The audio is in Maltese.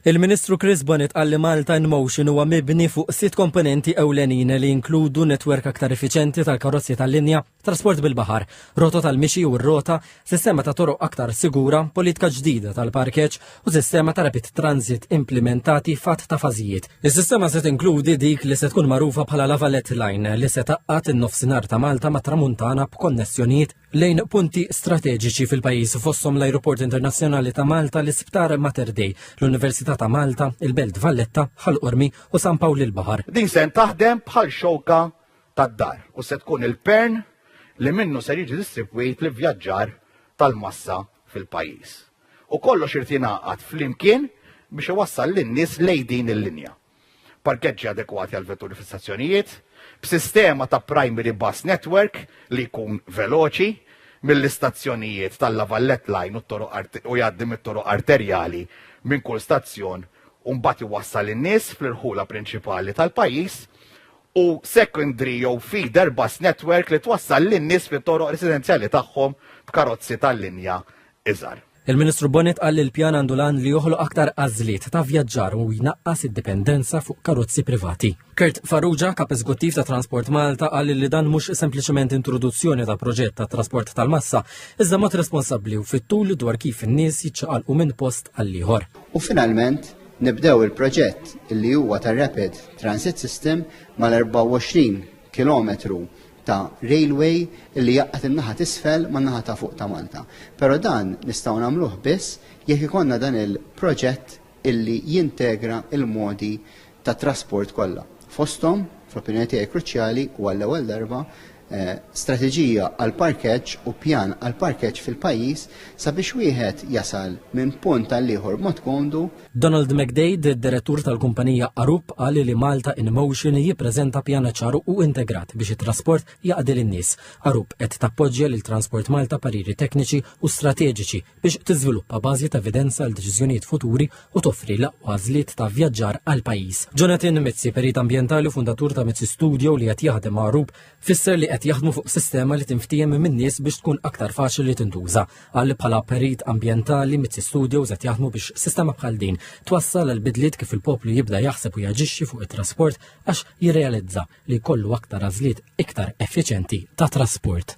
Il-Ministru Chris Bonnet qal li Malta in Motion huwa mibni fuq sitt komponenti ewlenin li jinkludu netwerk aktar effiċenti tal-karozzi tal-linja, trasport bil-baħar, rotot tal-mixi u r-rota, sistema ta' toroq aktar sigura, politika ġdida tal-parkeġġ u sistema ta' rapid transit implimentati fatt ta' fażijiet. Is-sistema se tinkludi dik li se tkun magħrufa bħala Lavalet Line li se taqqat in-nofsinhar ta' Malta mat-Tramuntana b'konnessjonijiet lejn punti strateġiċi fil-pajjiż fosthom l-Ajruport Internazzjonali ta' Malta, l-Isptar Mater Dei, l-Università ta' Malta, il-Belt Valletta, Ħal Qormi u San Pawl il-Baħar. Din se taħdem bħal xewka tad-dar u se tkun il-pern li minnu ser jiġi distribwit li vjaġġar tal-massa fil-pajjiż. U kollox irid jingħaqad flimkien biex iwassal lin-nies lejn din il-linja. parkeġġi adekwati għal vetturi fis-stazzjonijiet, b'sistema ta' primary bus network li jkun veloċi mill-istazzjonijiet tal-Lavallette Line u t-toroq art- u jgħaddi mit-toroq arterjali minn kull stazzjon u mbagħad iwassal in-nies fl-irħula prinċipali tal-pajjiż, u secondary jew feeder bus network li twassal lin-nies fit-toroq residenzjali tagħhom b'karozzi tal-linja iżgħar. Il-Ministru Bonnet qal li l-pjan għandu l-għan li joħloq aktar għażliet ta' vjaġġar u jnaqqas id-dipendenza fuq karozzi privati. Kurt Farrugia, kap eżguttiv ta' Transport Malta, qal li dan mhux sempliċement introduzzjoni ta' proġett ta' trasport tal-massa, iżda mod responsabbli u fit-tul dwar kif in-nies jiċċaqalqu minn post għal ieħor. U finalment, nibdew il-proġett li huwa tar-Rapid Transit System mal-24 kilometru ta' railway li jaqqat in-naħa t'isfel man-naħa ta' fuq ta' Malta. Però dan nistgħu nagħmluh biss jekk ikollna dan il-proġett illi jintegra l-modi ta' trasport kollha. Fosthom, fl-opinjoni tiegħi kruċjali u għall-ewwel darba, strateġija għall-parkeġġ u pjan għall-parkeġġ fil-pajjiż sabiex wieħed jasal minn punt għall-ieħor b'mod komdu Donald McDade, direttur tal-kumpanija Arup, qal li Malta in Motion jippreżenta pjana ċaru u integrat biex it-trasport jaqdi lin-nies. Arup qed tappoġġja lil Transport Malta pariri tekniċi u strateġiċi biex tiżviluppa bażi ta' evidenza għal deċiżjonijiet futuri u toffri l-aqwa żliet ta' vjaġġar għall-pajjiż. Jonathan Mizzi, perit ambjentali u fundatur ta' Mizzi Studio li qed jaħdem ma' Arup, Fisser li qed jaħdmu fuq sistema li tinftiehem minn nies biex tkun aktar faċli li tintuża. Qal li bħala perit ambjentali mit Studios qed jaħdmu biex sistema bħal din twassal għal bidliet kif il-poplu jibda jaħseb u jaġixxi fuq it-trasport għax jirrealizza li jkollu aktar għażliet iktar effiċenti ta' trasport.